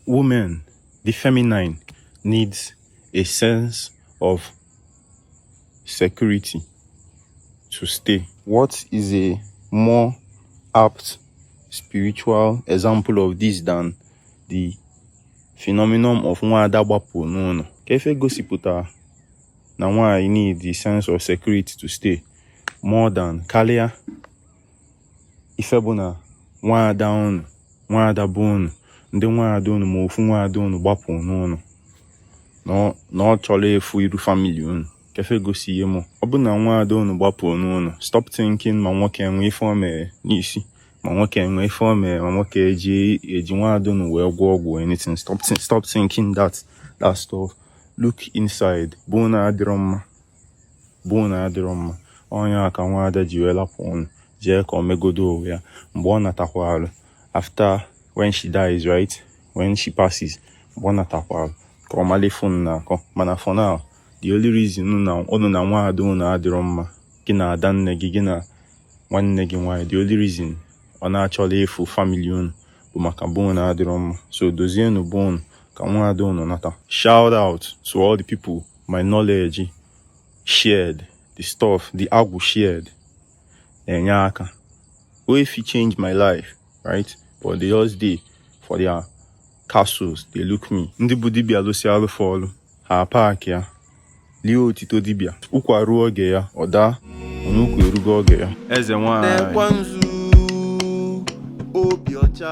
Women, the feminine, needs a sense of security to stay. What is a more apt spiritual example of this than the phenomenon of nwaada gbapụ n'ụnọ kee ife gosipụta na nwaanyị need a sense of security to stay more than karịa ife bụ na nwaada unu nwaada be unu ndị nwaada unu ma ofu nwaada unu gbapụ n'ụnọ na ọ chọrọ ịfụ iru famili unu kee ife gosi ihe mụ ọ bụ na nwaada unu gbapụ n'ụnọ stop thinking ma nwoke enwe ife o mere n'isi ma nwoke enwe ife o mere ma nwoke eji eji nwaada unu wee gwọ ọgwụ anything stop stop thinking that that stuff look inside be unu adịrọ mma be unu adịrọ mma ọ nya ka nwaada ji wee lapụ unu jee ka o megodo onwe ya mgbe ọ natakwarụ after when she dies right when she passes mgbe ọ natakwarụ ka ọ malụ ife ọ na-akọ mana for now the only reason unu na nwaada unu adịrọ mma gị na ada nne gị gị na nwanne gị nwaanyị the only reason ọ na-achọla ịfụ famili unu bụ maka be unu adịrọ mma so dozienụ be unu ka nwaada unu nata shout out to all the people my knowledge shared the stuff the agwụ shared na-enye aka wey fit change my life right but they just dey for their castles dey look me ndị bụ dibia lụsi alụfọ ọlụ ha paaki ya lie otito dibia ụkwa ruo oge ya ọ daa onye ụkwa erugo oge ya eze nwaanyị na-ekwe nzu obi ọcha